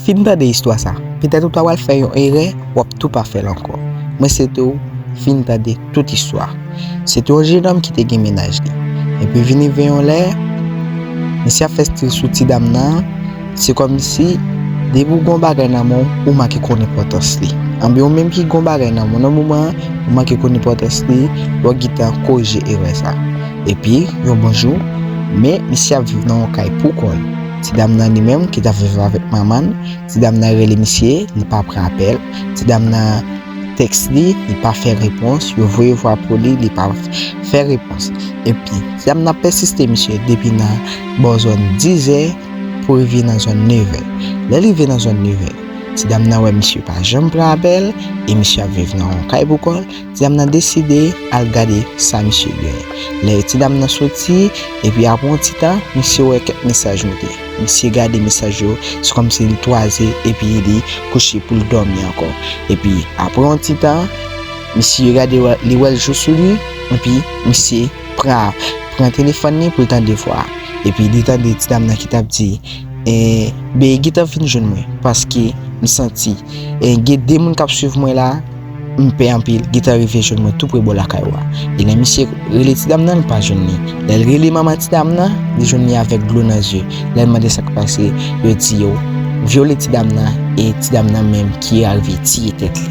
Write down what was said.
Fin tande istwa sa, petèt ou ta pral fè yon erè, w ap tou pa fè l ankò. Mwen swete w fin tande tout istwa a. Se te yon jenòm ki te gen mennaj li. Epi vin rive yon lè, misye ap fè stil sou ti dam nan an, se kòmsi depi w gen yon bagay nan men w, ou manke konn enpòtans li. Anben ou menm ki gen yon bagay nan men w nan moman an, ou manke konn enpòtans li, lò gen tan korije erè sa. Epi, yon bon jou, men misye ap viv nan yon kay pou kò l. Ti dam nan li menm ki tap viv avèk manman l, ti dam nan rele misye, li pa pran apèl, ti dam nan tèks li, li pa fè repons, yo voye vwa pou li, li pa fè repons. Epi, ti dam nan pèsiste misye depi nan bò zòn dizè pou rive nan zòn nevè. Lè l rive nan zòn nevè, ti dam nan wè misye pa janm pran apèl e misye ap viv nan yon kay pou kò l, Ti dam nan deside al gade sa misye gen. Lè ti dam nan soti, epi apre yon ti tan, misye wè kèk mesaj moute. Misye gade mesaj yo, se kòmsi li twaze epi li kouche pou l dòmi ankò. Epi apre yon ti tan, misye gade li wè l jou sou li, epi misye pran telefòn li pou l tande vwa a. Epi li tande ti dam nan ki t ap di, Bgy gentan fin jwenn mwen, paske m santi gen de moun k ap swiv mwen la. M pè anpil gita rive jwenn mwen tou pre bò lakay ou a. E lè misye rele ti dam nan li pa jwenn li. Lè l rele manman ti dam nan, li jwenn li avèk dlo nan zye. Lè l mande sa k pase, yo di yo vyole ti dam nan e ti dam nan menm ki arive tiye tèt li.